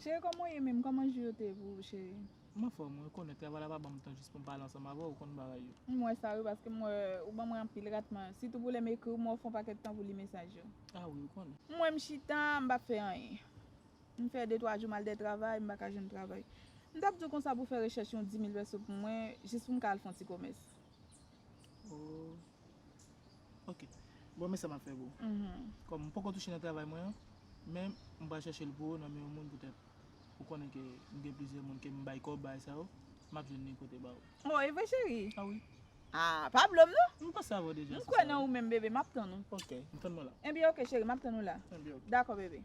Chéri kòman w ye menm kòman jou yo te pou ou chéri. M anfòm wi ou konnen travay la pa banm tan jis poum pale ansanm avèw ou konn bagay yo. M wè sa wi paske m wè ou ban mwen anpil ratman sitou pou lèm ekriw m wè ou fon pakèt tan pou li mesaj yo. Ah wi ou konnen. M wè m chita m pa fè anyen. M fè de twa jou m al de travay, m pa ka jwenn travay. M t ap di w konsa pou fè rechèch yon dimil pèso pou mwen, jis pou m ka al fè yon ti komès. Oh. Ok. Bon, men sa m ap fè pou ou. Kòm m poko touche nan travay mwen an, men m pral chèche l pou ou nan men yon moun poutèt ou konnen ke m gen plizyè moun ke m bay kòb, bagay sa yo, m ap jwenn li kote ba ou. Bon e vre cheri? Ah oui. Ah pa blom non. M panse avè w deja sou sa. M kwè nan ou menm bebe map tann ou. Ok m tann mwen la. Ebyen ok cheri map tann ou la. Ebyen ok. Dakò bebe.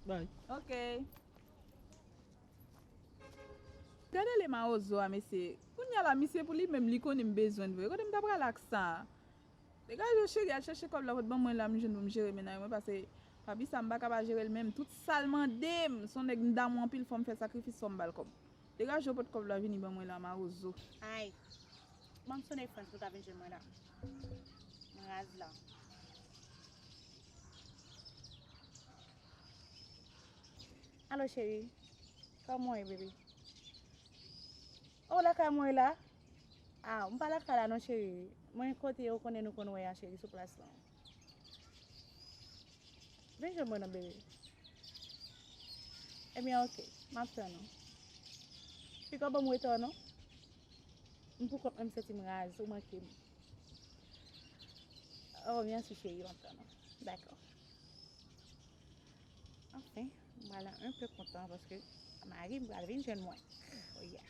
Bye. Ok. Gade le mawozo a mesye. Kounya la misye pou li menm li konnen m bezwen l vre. Kote m ta prale ak sa. Degaje w cheri al chache kòb la pot ban mwen la m jwenn pou m jere menaj mwen pase papi sa m paka pa jere l menm tout sal mande m son nèg m damou anpil fòm fè sakrifis fòm bal kòb. Degaje yo pot kòb la vini ban mwen la marozo. Ayy banm sone frans pou ta vin jwenn mwen la m raz la. Alo cheri kòman w ye baby oh w lakay mwen la ah m pa lakay la non cheri mwen kote ou konnen nou konn wè a cheri sou plas lan. Vin jwenn mwen nan bebe. Ebyen eh ok, map tann ou. Pika banm weta non. M pou kont mwen m santi m raz, ou manke m. Oh merci chérie, map tann ou. Dakò. Anfen, m pral an un peu kontan paske mari m pral vin jwenn mwen. Oh yeah.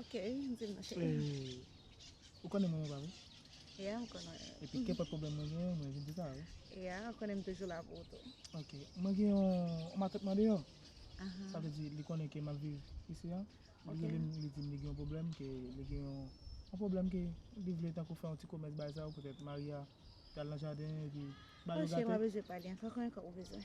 Ok, m di l nan cheri. Eh, ou konnen mwen ou pa vre? Yeah, m konnen. Epi kenpòt pwoblèm mwen genyen, mwen vin di sa a wi. Yeah, ou konnen m toujou la pou ou tou. Ok, mwen gen yon matant mwen deyò. Aha. Sa vle di li konnen ke m ap viv isi an. Li Ok. rele m, li di m li gen yon pwoblèm, ke li gen yon yon pwoblèm ke li vle tankou fè yon ti komès bagay sa yo, petèt mari a pral nan jaden epi ba Oh yo cheri m gate. pa bezwen pale ankò, konyen kòb ou bezwen.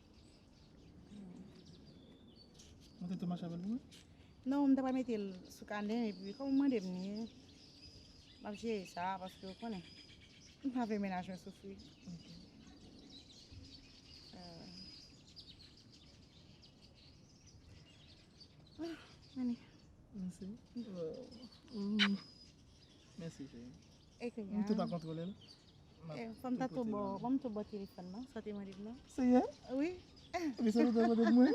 Mwen te te mache avèl pou mwen? Non, m ta pral mete l sou kanè m epi kòm ou mande m li, m ap jere sa paske ou konnen m pa vle mennaj mwen soufri. Mèsi cheri. Mwen tou pa kontrole l. Fòm ta tou bò, fòm tou bò telefòn nan, sa te mande m nan. Se yè? Wi. Epi se nou te mande mwen?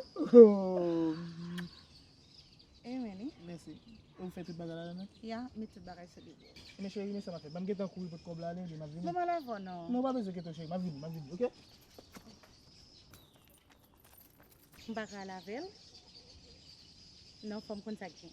E mwen ni. Mèsi. Ou fè tout bagay la nan? Ya, m met tout bagay sou li. Men cheri, men sa m ap fè. Ban m gen tan kouri pot kòb la ale, epi m ap vini. Mwen pa la vò nan. Non, ou pa bezwen kete w cheri, m ap vini, m ap vini, ok? M pa ka al avè l. Non, fòm konn sa k gen.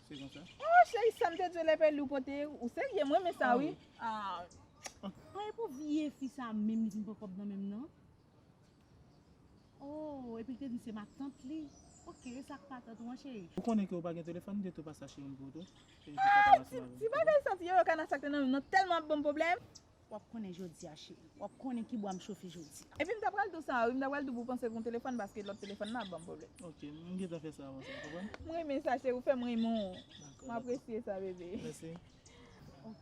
Se konsa. Oh cheri sam te dwe lève li ou pote ou serye mwen men sa wi. Mwen e pou vye fi sa menm li vin pran kob nan menm nan. Oh epi li te di se matant li. Ok e sak patant ou an cheri. Ou konnen ke ou pa gen telefòn m te tou pase achte youn pou ou tou. Ti bagay sa ti yoyo kana sak te nan menm nan telman ap banm pwoblèm. Wap konnen jodia cheri. Wap konnen ki bwa m chofe jodia. Epi m ta pral tou sa wi m ta pral tou pou panse pou telefòn paske lòt telefòn nan ap banm pwoblèm. Ok m gentan fè sa avan sa ou konprann. M renmen sa cheri ou fèm renmen w. Dakò. M apresye sa bebe. Mèsi. Ok.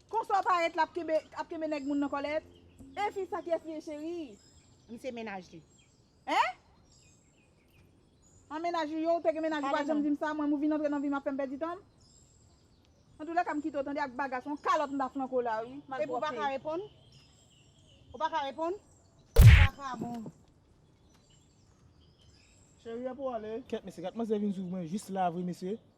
Konsa w parèt la ap kenbe nèg moun nan kòlèt? E fi sa kiyès li ye cheri? M se mennaj li. Hein? An mennaj ou ye ou te gen mennaj ou pa janm di m sa mwen m ou vin antre nan vi m ap fè m pèdi tan m? Antoulèka m kite w tande ak bagas on kalòt m ta flanke w la wi malpwòpte. Epi w pa ka reponn? Ou pa ka reponn? Sa pa bon. Cheri epi w ale? Kèt mesye gad manzè vin swiv mwen jis la vre mesye.